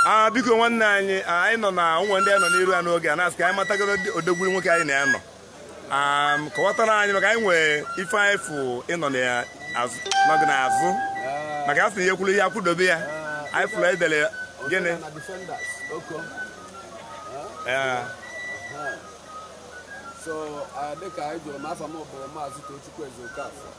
a biko nwanne anyị anyị nọ na ụmụ ndị anyị nọ n'iru ya n'oge a na-asị ka anyị matagoro odogwu nwoke anyị na ya nọ kọwatara anyị maka anyị nwere ife anyị fụ ịnọ n'oge n'azụ maka a sị na ihe kwụrụ ihe akwụdobe ya anyị fụrụ edere gịnị so dịka anyị jụrụ m afa m bụ maazị Tochukwu Ezeokafor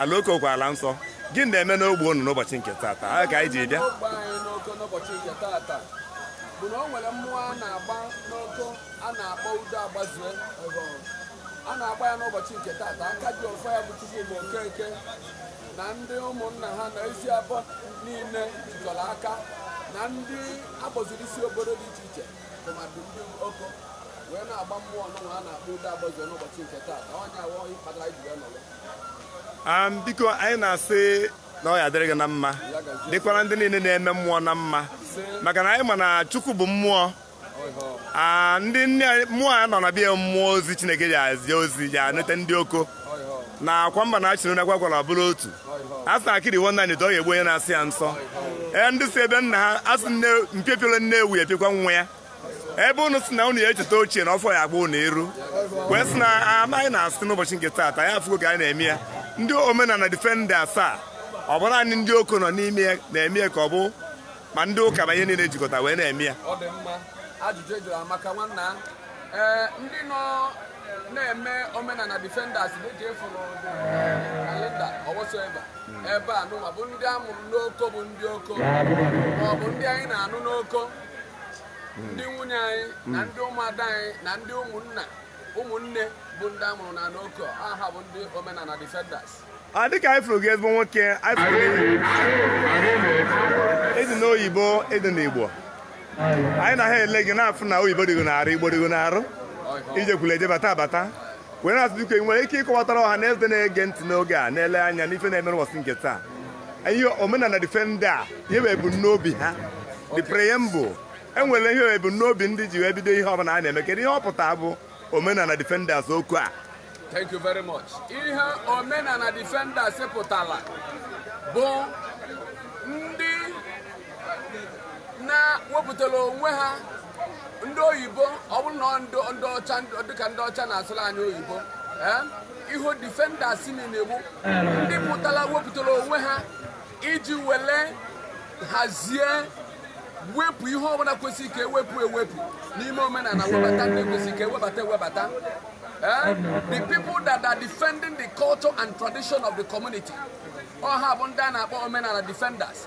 Ala Oko kwa ala nsọ, gịnị na-eme n'ogbe unu n'ụbọchị nke tata? Ọ ka anyị ji bịa. N'ogbe anyị n'Oko n'ụbọchị nke tata bụ na o nwere mmụọ a na-agba n'Oko a na-akpọ udo agbazue a na-agba ya n'ụbọchị nke tata aka ji ọfọ ya bụ Chukwuma Okeke na ndị ụmụnna ha na Eziabọ niile jikọrọ aka na ndị agbaziri isi obodo dị iche iche tụmadị ndị Oko wee na-agba mmụọ ọnụnwa a na-akpọ udo agbazue n'ụbọchị nke tata ọ ya wụ kpatara ji wee nọrọ Am, biko anyị na-asị na ọ ya adịrị gị na mma dịkwara ndị niile na-eme mmụọ na mma maka na anyị ma na chukwu bụ mmụọ Ah, ndị nne anyị- mmụọ a nọ na bịa mmụọ ozi chineke ji ezi ozi ji enete ndị Oko na akwa mba na-achịrị nakwa kwara bụrụ otu a sị na akịrị wụnye n'ite ọ ga-egbu onye na-asọ ya nsọ ee ndị si ebe nna ha a sị na mpio piola nne ewu epiokwa nwa ya ebe unu sị na unu ya echeta ochie na ọfọ ya agba unu iru wee sị na anyị na-asị n'ụbọchị nke taata ya afụgo ka anyị na-eme ya ndị omenala defenders a ọ bụ nanị ndị Oko nọ n'ime ya na-eme ya ka ọ bụ ma ndị ụka ma ihe niile jikọta wee na-eme ya ọ dị mma ajụjụ ị jụrụ amaka nwanna ee ndị nọ na-eme omenala defenders na-eji efuru kalenda ọwọsoeba ebe a nụwa bụ ndị a mụrụ n'Oko bụ ndị Oko maọbụ ndị anyị na-anụ n'Oko ndị nwunye anyị na ndị ụmụada anyị na ndị ụmụnna ụmụnne bụ ndị a mụrụ na n'Oko ọ ha bụ ndị omenala defenders a dịka anyị fụrụ gị ezigbo nwoke anyị fụrụ gị ị dị n'oyibo ị dị n'Igbo anyị na ha ele gị na-afụ na oyibo dịgo n'arụ Igbo dịgo n'arụ i jekwuru eje bata abata were asị biko ị nwere ike ịkọwatara ọha na eze na-ege ntị n'oge a na-ele anya n'ife na-eme n'ụbọchị nke taa ihe omenala defenders a ihe bụ ebumnobi ha the preamble enwere ihe ebumnobi ndị ji wee bido ihe ọbụla a na-eme kedu ihe ọ pụtara bụ omenala defenders okwu a Thank you very much. Ihe omenala defenders pụtara bụ ndị na-wepụtara onwe ha ndị oyibo ọ bụrụ na ndị ọcha dịka ndị ọcha na-asụrụ anyị oyibo eh, ihu defenders na-egbu ndị pụtara wepụtara onwe ha iji wele hazie wepụ ihe ọbụla kwesịrị ka e wepụ ewepụ n'ime omenala webata ndị kwesịrị ka e webata ewebata eh, the people that are defending the culture and tradition of the community ọ ha bụ ndị a na-akpọ omenala defenders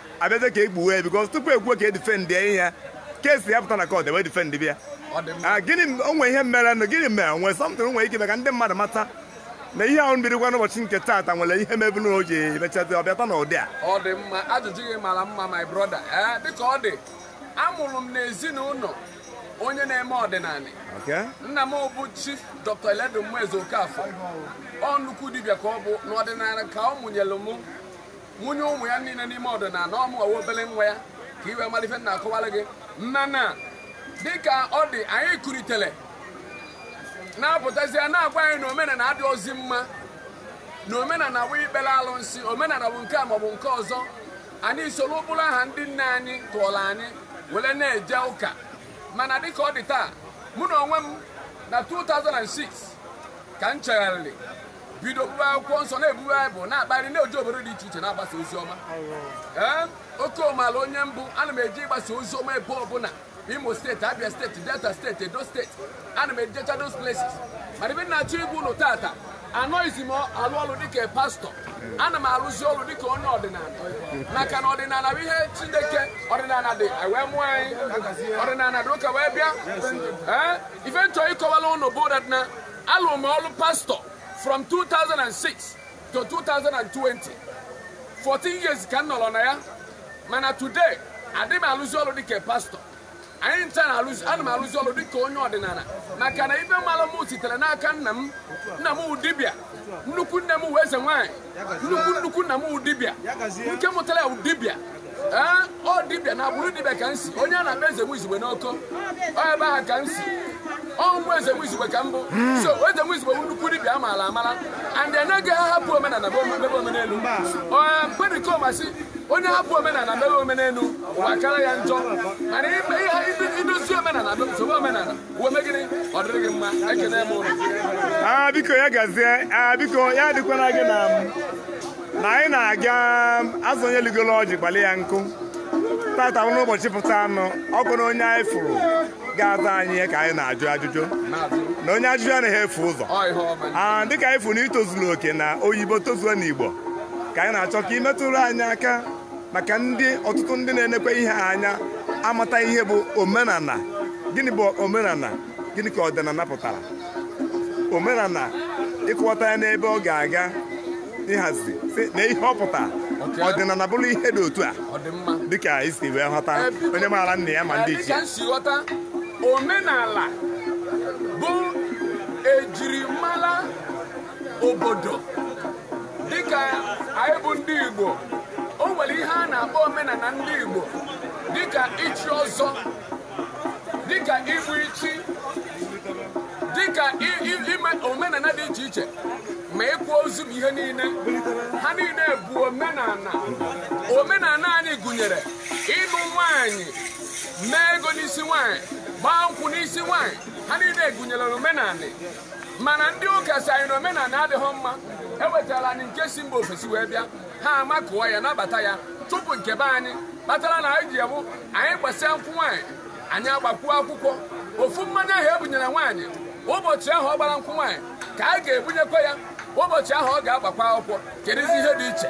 a bịazie ka e gbuwe ya because tupu e kwuo ka e defend ya ihe case ya pụta na court e wee defend bịa Ah, gịnị m- o nwee ihe mere nụ gịnị mere nwee sọmtụrụ nwee ike ime ka ndị mmadụ mata na ihe ahụ mebirikwa n'ụbọchị nke taata nwere ihe mebu na o ji emechazi ọ bịata n'ụdị a ọ dị mma ajụjụ gị mara mma my brother ee dịka ọ dị a mụrụ m n'ezinụlọ onye na-eme ọdịnala Okay? nna m bụ chief dr eledumeze okafọ ọ nnukwu dibịa ka ọ bụ n'ọdịnala ka ọ mụnyere m Mụnye ụmụ ya niile n'ime ọdịnala ọ wụ mụnwa wụ obere nwa ya ka i wee mara ife m na-akọwara gị mana dịka ọ dị anyị kulitere na-apụtazie na-agwa anyị na omenala adịrọzi mma na omenala bụ ikpere alụnsị omenala bụ nke a maọbụ nke ọzọ anyị soro ụkpụrụ ahụ ndị nne anyị tọọrọ anyị were na-eje ụka mana dịka ọ dị taa mụ n'onwe m na 2006 ka m chegharịrị bido buru akwụkwọ nsọ na-ebu baịbụl na-akpagharị na-eje obodo dị iche iche na-agbasa ozi ọma ee ọ ka ị mala onye m bụ ana m eje ịgbasa ozi ọma ebe ọbụla imo state abia state delta state edo state ana m ejecha those places mana ife m na-achọ ịgwa ụnụ tata anọghịzi m alụ ọrụ dịka pastọ ana m arụzi ọrụ dịka onye ọdịnala maka na ọdịnala bụ ihe chineke ọdịnala dị e wee mụọ anyị ọdịnala dị ụka wee bịa ee ife m chọ ịkọwala ụnụ bụ that na Alụrụ m ọrụ pastọ from 2006 to 2020 14 years ka m nọrọ na ya mana today adị m alụzi ọrụ dịka pastọ anyị ncha na-alụzi ana m alụzi ọrụ dịka onye ọdịnala maka na ife m malụ m sitere n'aka nna m nna m wụ dibịa nnukwu nne m wụ eze nwaanyị nnukwu nnukwu nna m wụ dibịa nke mụtara ya wụ dibịa ee ọ dibịa na agbụrụ dibịa ka m si onye a na-akpọ eze nwizigbe n'oko ọ ebe ahụ ka m si ọ nwa eze nwizigbe ka m bụ so eze nwizigbe bụ nnukwu dibịa a maara amara and anaghị ahapụ omenala bụ mebe omenelu pericoma sị onye hapụ omenala mebe omenelu ụwa kara ya njọ mana idozi omenala bụ nsogbu omenala Ah, biko ya gazie ah, biko ya dịkwara gị na na anyị na-aga azụ onye ligolo ọjị kpalị ya nkụ tata bụ n'ụbọchị pụta anụ ọ bụrụ onye anyị fụrụ ga-aza anyị ihe ka anyị na-ajụ ajụjụ na onye ajụjụ anaghị efu ụzọ ah, dịka anyị fụrụ na i tozuru oke n'oyibo tozuo n'igbo ka anyị na-achọ ka i metụrụ anyị aka maka ndị ọtụtụ ndị na-enekwa ihe anya amata ihe bụ omenala gịnị bụ omenala gịnị ka ọdịnala pụtara omenala ị kọwata ya n'ebe ọ ga-aga ịhazi sị na ihe ọ pụtara ọdịnala bụrụ ihe dị otu a dịka i si wee ghọta onye maara nna ya ma ndị ichie si ghọta omenala bụ ejirimara obodo dịka anyị bụ ndị Igbo o nwere ihe a na-akpọ omenala ndị Igbo dịka ichi ọzọ dịka igbu ichi dịka ime omenala dị iche iche ma ịkwa ozu ma ihe niile ha niile bụ omenala omenala anyị gụnyere ịnụ nwanyị mee ego n'isi nwanyị gbaa nkwụ n'isi nwanyị ha niile gụnyere omenala mana ndị ụka sị anyị na omenala adịghị mma e wetara anyị nke si mba ofesi wee bịa ha amakụọ ya nabata ya chụpụ nke be anyị kpatara na anyị ji abụ anyị gbasịa nkwụ nwaanyị anyị agbakwuo akwụkwọ ofu mmanya ahụ e bunyere nwaanyị ụbọchị ahụ ọ gbara nkwụ nwaanyị ka anyị ga-ebunyekwa ya ụbọchị ahụ ọ ga-agbakwu akwụkwọ kedụzi ihe dị iche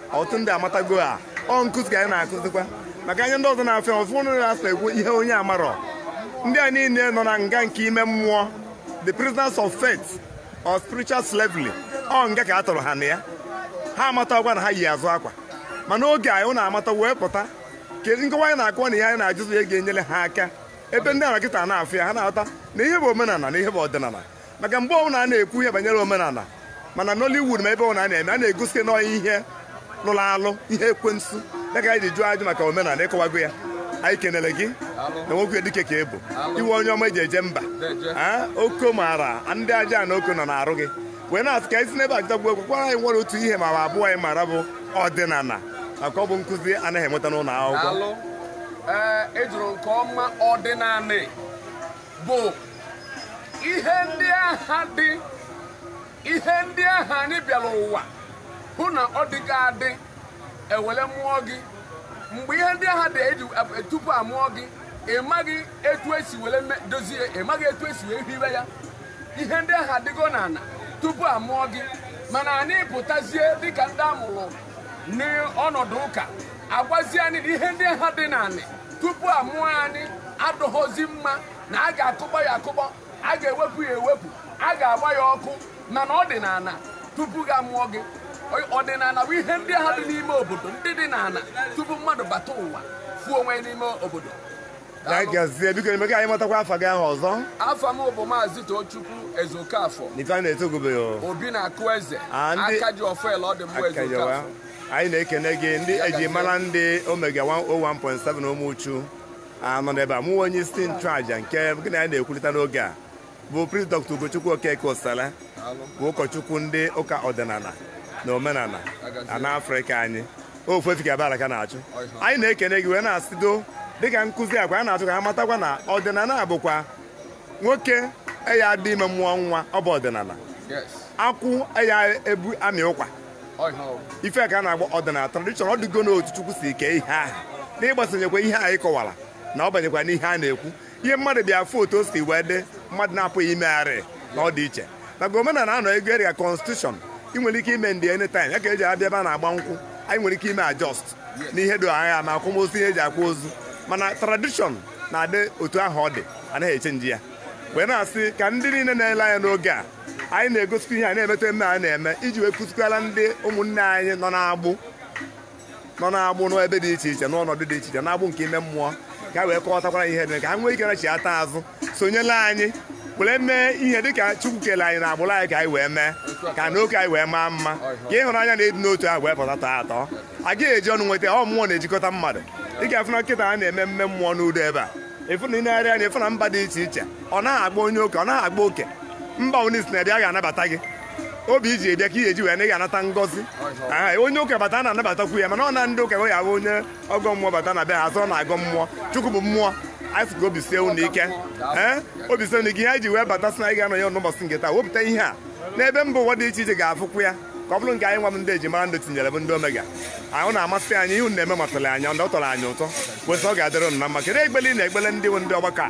ọtụtụ ndị amatago a ọ nkụzi ka anyị na-akụzikwa maka anya ndị ọzọ na-afụ anyị ụfụ na-asị ekwu ihe onye amarọ ndị a niile nọ na nga nke ime mmụọ the prisoners of faith or spiritual slavery ọ nga ka a tụrụ ha na ya ha amatarọkwa na ha yi azụ akwa mana oge anyị ụnụ amata wee pụta kedụzi nkọwa anyị na-akọwa na ihe anyị na-ajụzi ya ga-enyere ha aka ebe ndị a nọ kịta na-afụ ya ha na-aghọta na ihe bụ omenala na ihe bụ ọdịnala maka mgbe ọbụla a na-ekwu ihe banyere omenala mana Nollywood ma ebe ọbụla a na-eme a na-egosi nọọ ihe lụrụ alụ ihe ekwensu ya ka anyị ji jụọ ajụ maka omenala ị kọwago ya anyị kenere gị na nwoke dike ka ị bụ iwe onye ọma eji eje mba Ee, oko maara ndị aja na oko nọ na-arụ gị wee na-asị ka anyị si n'ebe ajụtagbu egwu kwara anyị nwere otu ihe ma ọ bụ abụọ anyị mara bụ ọdịnala maka ọ bụ nkụzi anaghị enweta n'ụlọ akwụkwọ Daalụ. Ee, ị jụrụ nke ọma ọdịnanị bụ ihe ndị aha dị ihe ndị aha anyị bịara ụwa hụ na ọ dịga adị e were mụọ gị mgbe ihe ndị aha dị adị tupu a mụọ gị ị maghị etu e si were dozie ị maghị etu e si wee hiwe ya ihe ndị aha adịgo n'ala tupu a mụọ gị mana anyị pụtazie dịka ndị a mụrụ n'ọnọdụ ụka a gwazi anyị na ihe ndị aha dị n'anị tupu a mụọ anyị adịhọzi mma na a ga-akụkpọ ya akụkpọ a ga-ewepụ ya ewepụ a ga-agba ya ọkụ mana ọ dị n'ala tupu ka a mụọ gị ọdịnala bụ ihe ndị aha dị n'ime obodo ndị dị n'ala tupu mmadụ bata ụwa fụ onwe ya n'ime obodo na anyị gazie bikonụ mee ka anyị matakwa afa gị ahụ ọzọ afa m bụ maazị Tochukwu Ezeokafọ n'ife a na-etu gị bụ obi na-akụ eze Ah, ndị- aka ji ọfọ ọ dị mma Aka Ezeokafọ jewa. anyị na-ekene gị ndị Ya eji gazie. mara ndị omega 101.7 Ụmụchu a nọ n'ebe a mụwa onye isi nchụaja nke gị na ya na-ekwurịta n'oge a bụ Priest Dr. Ugochukwu Okeke Osala bụ ụkọchukwu ndị ụka ọdịnala na omenala ana Afrịka anyị ofu efi ka abala ka na-achụ anyị na-ekene gị wee na-asịdo dịka nkụzi agwa a na-achọ ka ha matakwa na ọdịnala bụkwa nwoke eya adị ime mmụọ nwa ọ bụ ọdịnala akwụ eya ebu amị ụkwa ife ka a na-agba ọdịnala tradition ọ dịgo n'otu chukwu si kee ihe ahụ n'ịgbasonyekwa ihe anyị kọwara na ọ banyekwa n'ihe a na-ekwu ihe mmadụ bịa afụ otu o si wee dị mmadụ na-apụghị imegharị na ọ dị iche na omenala anọ ego erika constitution ị nwere ike amend ya anytime ya ka eji abịa ebe a na-agba nkwụ anyị nwere ike ime adjust n'ihe ndị ahụ ma akwamozu ihe eji akwa ozu mana tradition na-adị otu ahụ ọ dị anaghị echange ya wee na-asị ka ndị niile na-ele anya n'oge a anyị na-egosikwa ihe a na-eme taa emume a na-eme iji wee kụzikwala ndị ụmụnne anyị nọ n'agbụ nọ n'agbụ n'ebe dị iche iche n'ọnọdụ dị iche iche n'agbụ nke ime mmụọ ka anyị wee kọwatakwara ihe mere ka ha nwee ike nachighata azụ sonyela anyị were mee ihe dịka Chukwu kele anyị n'agbụrụ anyị ka anyị wee mee ka nnọkọ anyị wee maa mma ka ịhụnanya na ịdị n'otu ahụ wee pụta tọọ atọ a gaghị eji ọnụ nweta ọ mmụọ na-ejikọta mmadụ ị ga-afụ na kịta a na-eme mme mmụọ n'udo ebe a ịfụ na ị na-arị anya ịfụ na mba dị iche iche ọ naghị akpa onye oke ọ naghị akpa oke mba onye si na ebe a ga-anabata gị obi i ji wee bịa ka ị ya-eji wee naa ị ga-anata ngọzi Aha, onye ụka bata a na-anabatakwu ya mana ọ na ndị ụka ya bụ onye ọgọ mmụọ bata na be ha asị ọ na-agọ mmụọ chukwu bụ mmụọ anyị sị ka obi sie unu ike ee obi sie unu ike ihe anyị ji wee bata sị na anyị ga-anọ ya n'ụbọchị nke taa wepụta ihe a n'ebe mba ụwa dị iche iche ga-afụkwu ya ka ọ bụrụ nke anyị nwa m ndị ejimara ndụ tinyere bụ ndị omega ahụ na-amasị anyị ihe unu na-eme masịrị anyị ọ tọrọ anyị ụtọ wee sị ọ ga-adịrị unu na mma kedu ekpele ị na-ekpele ndị bụ ndị ọgbakọ a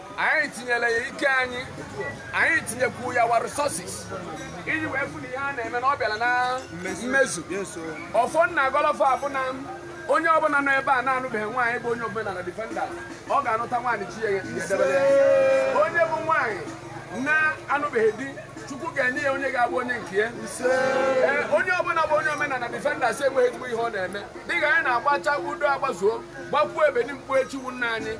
anyị tinyere ya ike anyị anyị tinyekwu ya our resources iji wee fụ na ihe a na-eme na ọ bịara na mmezu ọfọ m na-agọlọ fa bụ na onye ọbụla nọ ebe a na-anụbeghị nwaanyị bụ onye omenala defender ọ ga-anụta nwaanyị chi ya ya edebere ya. onye bụ nwaanyị na-anụbeghị di chukwu ga-enye ya onye ga-abụ onye nke ya Ee, onye ọbụla bụ onye omenala defenders enweghị ezigbo ihe ọ na-eme dịka anyị na-agbacha udo agbazuo gbakwuo ebeni mkpu echiwu nna anyị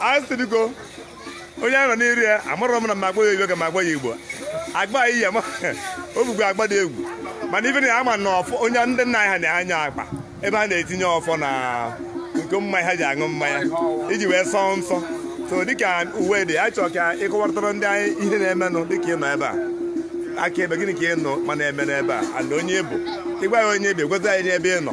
anyị sị biko onye ahụ nọ n'iru ya amarọ m na m agba ya igbo ka m agba ya igbo agba ya iya o bugbu akpa dị egwu mana ife na ya ama na ọfọ onye ndị nna anyị ha na-anya akpa ebe a na-etinye ọfọ na iko mmanya ha ji aṅụ mmanya iji wee sọọ nsọ so dịka uwe dị anyị chọrọ ka ịkọwarịtara ndị anyị ihe na-emenụ dịka ị nọ ebe a aka ebe gịnị ka ị nọ ma na-eme n'ebe a na onye ị bụ ịgwa ya onye ebe gweta ya n'ebe ị nọ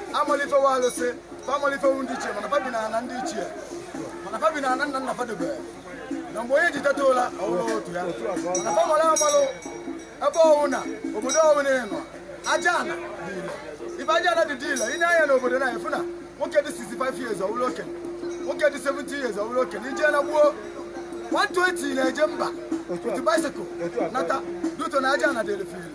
amalifewo alụsị fa amalifewo ndị ichie mana fa bi na ana ndị ichie mana fa bi na ana nna nna fa debere na mgbe onye ji teta ụla ọ wụrụ ụtụtụ ya mana fa mara amalụ ebe ọ wụ na obodo ọ wụ na ịnọ aja ana dị ile ife aja ana dị dị ile i nee anya n'obodo na-afụ na nwoke dị 65 years ọ wụrụ okenye nwoke dị 70 years ọ wụrụ okenye i je na gboo 120 na-eje mba otu bicycle nata due to na aja ana dị ile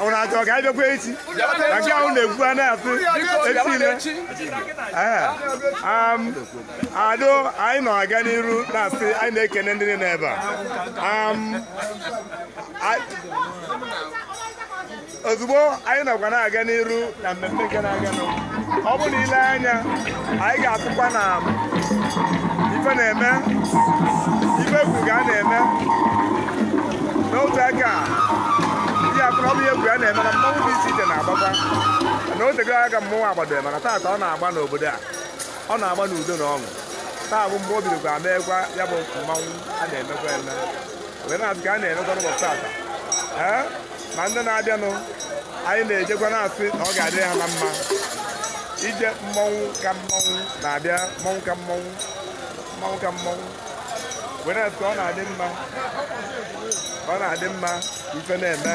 ọ na achọ ka anyị bịakwa echi na nke ahụ na-ekwu a na-atụ echi ado anyị na-aga n'iru na-asị anyị na-ekene ndị niile ebe a ozugbo anyị nakwa na-aga n'iru na mmemme gara aga nọ ọ bụ na i lee anya anyị ga-afụkwa na ife na-eme ife egwu ga na-eme n'otu aka ihe a kụrụ ọ bụ ihe egwu a na-eme na mmanwụ dị iche iche na-agbakwa na o tego aka mmanwụ agbado mana taata ọ na-agba n'obodo a ọ na-agba n'udo na ọṅụ taa bụ mgbe o bidokwa meekwa ya bụ mmanwụ a na-emekwa eme wee na-asị ka a na-emekwa n'ụbọchị taata ee ma ndị na-abịanụ anyị na-ejekwa na-asị na ọ ga-adịrị ha na mma ije mmọnwụ ka mmọnwụ na-abịa mmọnwụ ka mmọnwụ mmọnwụ ka mmọnwụ were asị ka ọ na-adị mma ka ọ na-adị mma ife na-eme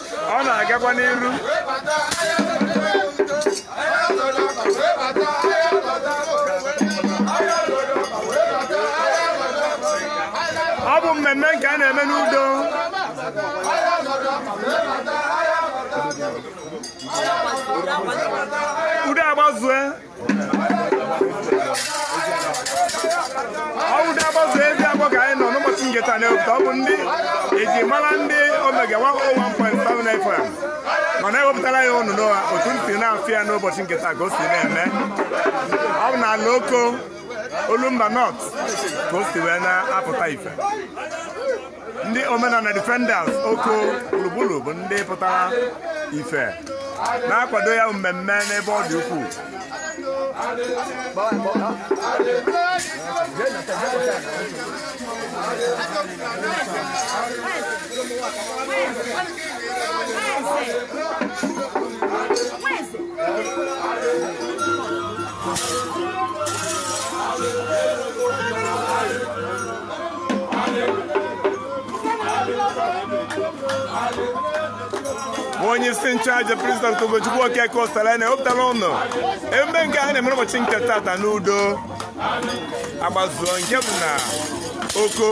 ọ na-agakwa n'iru ọ bụ mmemme nke a na-eme n'udo udo agbazue ọ wụ udo agbazụ Ezioko ka anyị nọ n'ụbọchị nke taa na-ewepụta ọ bụ ndị e ji mara ndị Omega 101.7 FM ma na-ewepụtara ya ụnụ n'ụwa otu ntị na-afụ ya n'ụbọchị nke taa ka o si na-eme ọ bụ n'ala Oko Olumba North ka o si wee na-apụta ife ndị Omenala Defenders Oko gburugburu bụ ndị pụtara ife na-akwado ya bụ mmemme n'ebe ọ dị ukwuu onye isi nchụaja priest Ugochukwu Okeke Osalene ewepụtala unu emume nke a na-eme n'ụbọchị nke tata n'Udo Agbazuo nke bụ na Oko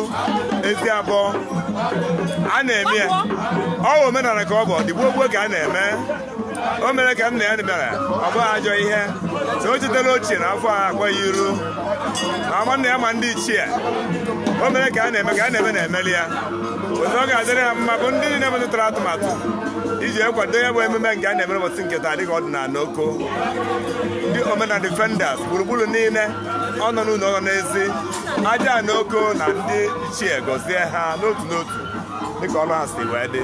Eziabọ a na-eme ya ọ bụ omenala ka ọ bụ ọ dị gboo gboo ka a na-eme o mere ka nna ya bịara ọ bụghị ajọ ihe so o chetara ochie na afọ a akwa ya iru ma ama nna ya ma ndị ichie o mere ka a na-eme ka a na-eme na-emeli ya otu ọ ga-adịrị ha mma bụ ndị niile mepụtara atụmatụ iji ekwado ya bụ emume nke a na-emere ụbọchị nke taa dịka ọdịnala Oko ndị omenala defenders gburugburu niile ọ nọ n'ụlọ ọ nọ n'ezi Ajana Oko na ndị ichie gọzie ha n'otu n'otu dịka ọlụ ha si wee dị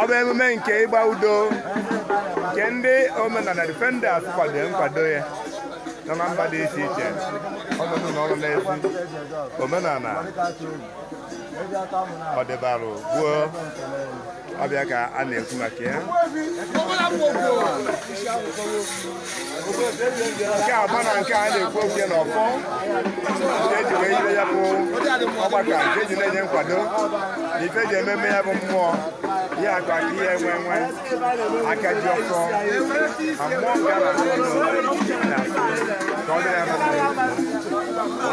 ọ bụ emume nke ịgba Udo nke ndị omenala defenders kwado nkwado ya nọ na mba dị iche iche ọ nọ n'ụlọ ọ nọ n'ezi omenala ọdịbarụ gboo ọ bụ ya ka a na-ekwu maka ya nke agba na nke a na-ekwu okwu ya n'ọfọ nke e ji wee yire ya bụ ọgbakọ nke e ji na-enye nkwado na ife e ji eme ya bụ mmụọ ihe akụ akụ ihe enwe enwe aka ji ọfọ ma mmụọ nke a na-atụ ọnụ na ka ọ dịrị ya na mma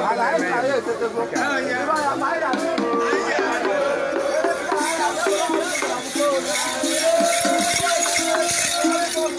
ha na-eme ya nke a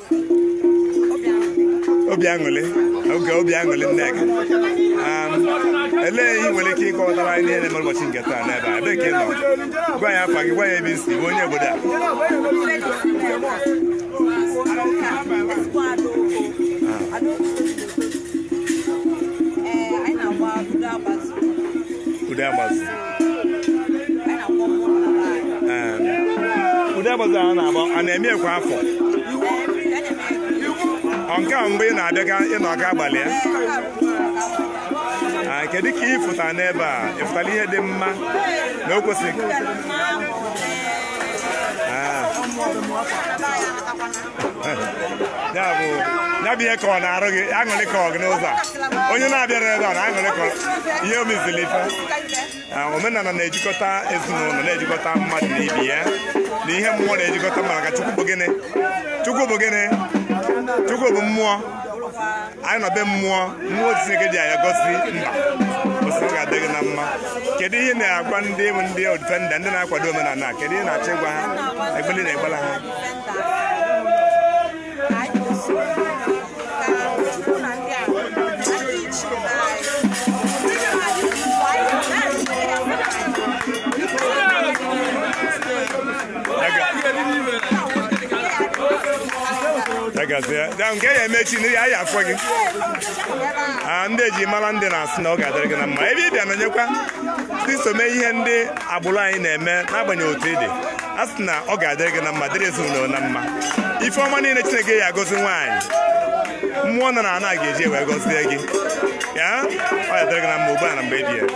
obi aṅụlị oge obi aṅụlị nne gị um, elee ihe nwere ike ịkọwatara anyị na-eme ụbọchị nke taa n'ebe a ebe ka ị nọ gwa anyị afa gị gwa anyị ebe i si bụ onye obodo a Udo Agbazụ Udo Agbazụ a na-agba a na-eme kwa afọ ọ nke a mgbe ị na-abịaga ịnọ aka abalị ya Ah, kedu ka ị fụtara n'ebe a ị fụtara ihe dị mma na o kwesịrị Ah. ya bụ ya bụ ihe ka ọ na-arụ gị aṅụrị ka ọ gị n'ụzọ a onye na-abịara ebe a na aṅụrị ka ọ- ihe omezili ife Ah, omenala na-ejikọta ezinụlọ na-ejikọta mmadụ na ibe ya na ihe mmụọ na-ejikọta mmadụ ka chukwu bụ gịnị chukwu bụ gịnị chukwu bụ mmụọ anyị nọ be mmụọ mmụọ chineke ji anyị gosi mba osi ọ ga-adị gị na mma kedu ihe ị na-agwa ndị bụ ndị defenders ndị na-akwado omenala a? kedu ihe ị na-achọ ịgwa ha egbeli na egbela ha nke ya emechi na ya ya afọ gị ah, ndị eji mara ndị na-asị na ọ ga-adịrị gị na mma ebe ị bịa nọnyekwa ndị so mee ihe ndị agbụrụ anyị na-eme n'agbanyeghị otu ị dị a sị na ọ ga-adịrị gị na mma dịrị ezinụlọ na mma ife ọma niile chineke ji agọzi nwaanyị mmụọ nọ na ana ga-eji wee gọzie gị ya ọ ya-adịrị gị na mma ugbu a na mgbe ebighị ebi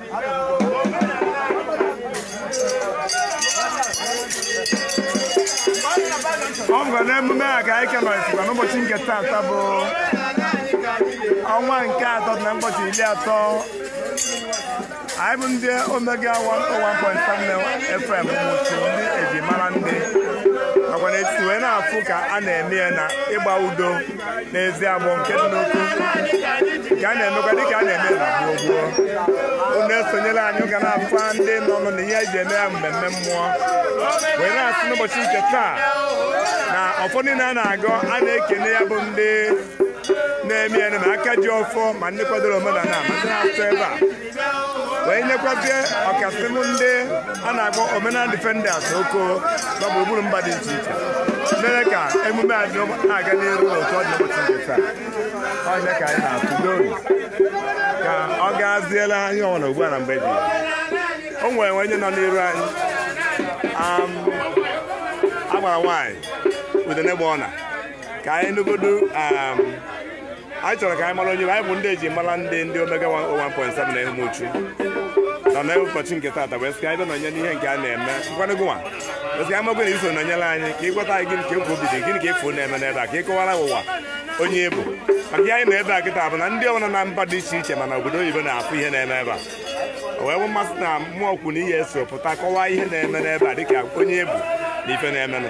ọ bụkwa n'emume a ka anyị kemalitekwa n'ụbọchị nke taata bụ ọnwa nke atọ na ụbọchị iri atọ anyị bụ ndị omega 101.7 fm umuchu ndị eji mara ndị nakwa na-esi wee na-afụ ka a na-eme ya na ịgba udo n'eziabọ nke dị n'oko nke a na-emekwa dịka a na-eme na gboo gboo unu esonyela anyị unu ga na-afụkwa ndị nọ nọ na ihe anyị ji eme ya mmemme mmụọ wee na-asị n'ụbọchị nke taa na ọfọ niile a na-agọ a na-ekene ya bụ ndị na-eme ya ma aka ji ọfọ ma ndị kwadoro omenala ma ndị na-atụ ebe a wee nyekwazie ọkasị ndị a na-akpọ omenala defenders oko na gburugburu mba dị iche iche mere ka emume a dị na-aga n'iru n'otu ọ dị ụbọchị nke taa ọ ya ka anyị na-atụ n'obi ka ọ gaziela anyị nwa na ugbu a na mgbe dị o nwere onye nọ n'iru anyị am agbara nwaanyị udene gba ọna ka anyị nụgodu am anyị chọrọ ka anyị mara onye anyị bụ ndị eji mara ndị ndị omega 101.7 na umuchu na na ụbọchị nke taata wee sị ka anyị bịa nọnye n'ihe nke a na-eme ngwanụ gụnwa wee sị ka amagwe na i so nọnyere anyị ka ị gwatụ anyị gịnị ka egwu obi dị gịnị ka ị fụ na-eme n'ebe a ka ị kọwara ụwa onye ị bụ maka ihe anyị nọ ebe a kịta bụ na ndị ọbụla na mba dị iche iche ma na obodo oyibo na-afụ ihe na-eme ebe a o wee bụ mmasị na mmụọ kwu na ihe eso pụta kọwaa ihe na-eme n'ebe a dịka onye ị bụ na ife na-emenụ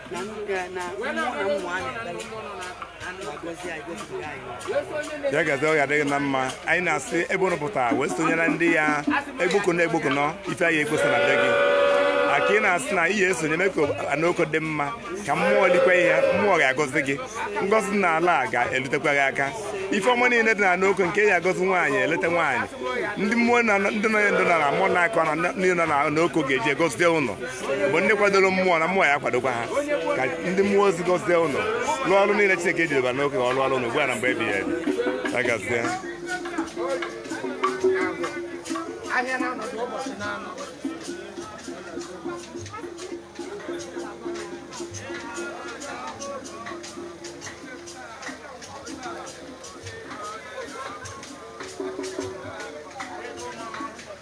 na m ga- na mmụọ na mmụọ a na-ekpere na-agọzi anyị gọzibiga anyị ya gazi ọ ga-adịrị na mma anyị na-asị ebe unu pụta wee sonyere ndị ya egboko na egboko nọ ife anyị ekposa na be gị aka ị na-asị na ihe esonye mee ka Ana Oko dị mma ka mmụọ likwa ihe mmụọ ga-agọzi gị ngọzi na ala a ga-elutekwa gị aka ife ọma niile dị na Ana Oko nke ya agọzi nwaanyị eleta nwaanyị ndị mmụọ na ndị nọ ya ndụ na na mmụọ na-akọ na ndị nọ na Ana Oko ga-eji egozie ụlọ bụ ndị kwadoro mmụọ na mmụọ ya akwadokwa ha ka ndị mmụọ ozi gọzie ụlọ lụọ ọrụ niile Chineke ejiriba n'oke ka ọ lụọ ọrụ ụlọ ugbu a na mgbe ebighị ebi ya gazie ahịa na-anọdụ ụbọchị na-anọ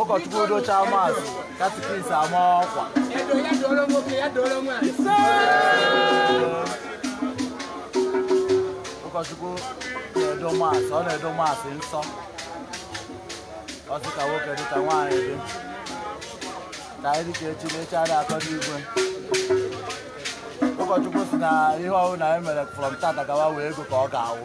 ụkọchukwu docha Mass catechist amaa ọkwa ụkọchukwu na-edo Mass ọ na-edo Mass nsọ ọ sị ka nwoke dị ka nwaanyị dị ka anyị dịka echi na echi adịghị akọ n'igwe ụkọchukwu si na ihe ọbụla e mere from tata gawa wee ego ka ọ ga-awụ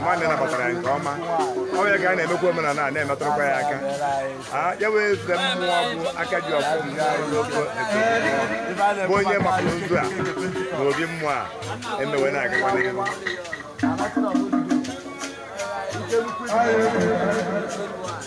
mmadụ nabatara ya nke ọma ọ ya ka a na-emekwa omenala a na-emetụrụkwa ya aka ya wee zute mmụọ bụ aka ji ọfọ na ogu bụ onye mapụrụ nzu a na obi mmụọ a emewe na-agakwa n'ihu Thank you.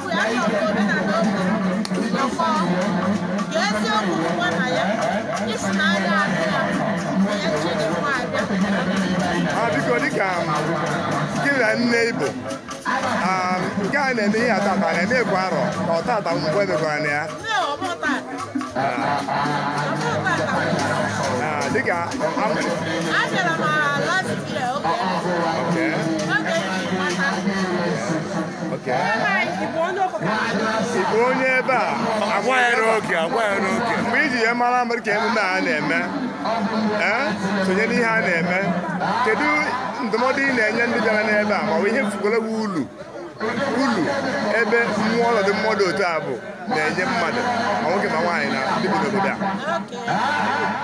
biko dịka gị na nne ibo nke a na-eme ihe a tata na-eme ịkwa arọ ka ọ tata mgbe emekwara na ya dịka Igbo onye ebe a agwa ya n'oge agwa ya n'oge mgbe iji ya mara mmadụ ka emume a na-eme ee sonye n'ihe a na-eme kedu ndụmọdụ ị na-enye ndị bịara n'ebe a ma ọ bụ ihe ị fụgolo wụ ulu ulu ebe mmụọ ọnọdụ mmadụ otu a bụ na-enye mmadụ ma nwoke ma nwaanyị na ndị bi n'obodo a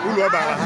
ulu ọ bara ha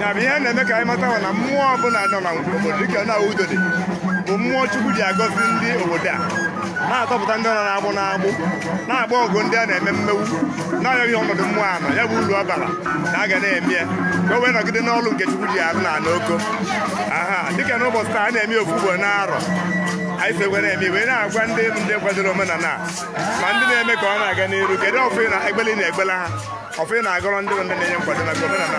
ya bụ ihe na-eme ka anyị mata na mmụọ ọbụla nọ na obodo dịka na udo dị bụ mmụọ chukwu ji agọzi ndị obodo a na-atọpụta ndị nọ n'agbụ n'agbụ na-agba ọgụ ndị a na-eme mmegbu na-arịọghị ọnọdụ mmụọ a nọ ya bụ uru ọ bara na a ga na-eme ya ka o wee nọgide n'ọlụ nke chukwu ji arụ na n'oko aha dịka n'ụbọchị taa a na-eme ofu ugbo n'arọ anyị si were eme wee na-agwa ndị ndị kwadoro omenala ma ndị na-eme ka ọ na-aga n'iru kedu ọfọ na egbeli na-egbela ha ọfọ ị na-agọrọ ndị ndị na-enye nkwado maka omenala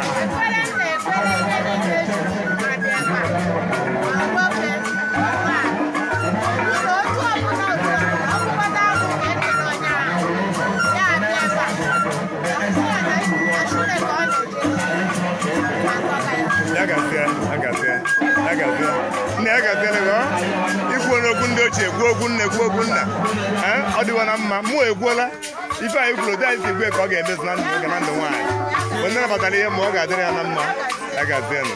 ya gazie ya gazie ya gazie nne ya gazie lego ikwu n'okwu ndị ochie kwuo okwu nne kwuo okwu nna ọ dịwa na mma mụ ekwuola ife anyị kwuru otu anyị si gọọ ka ọ ga-emezu na ndụ nwoke na ndụ nwaanyị mgbe ndị nabatara ihe ọma ọ ga-adịrị ya na mma ya gazie nụ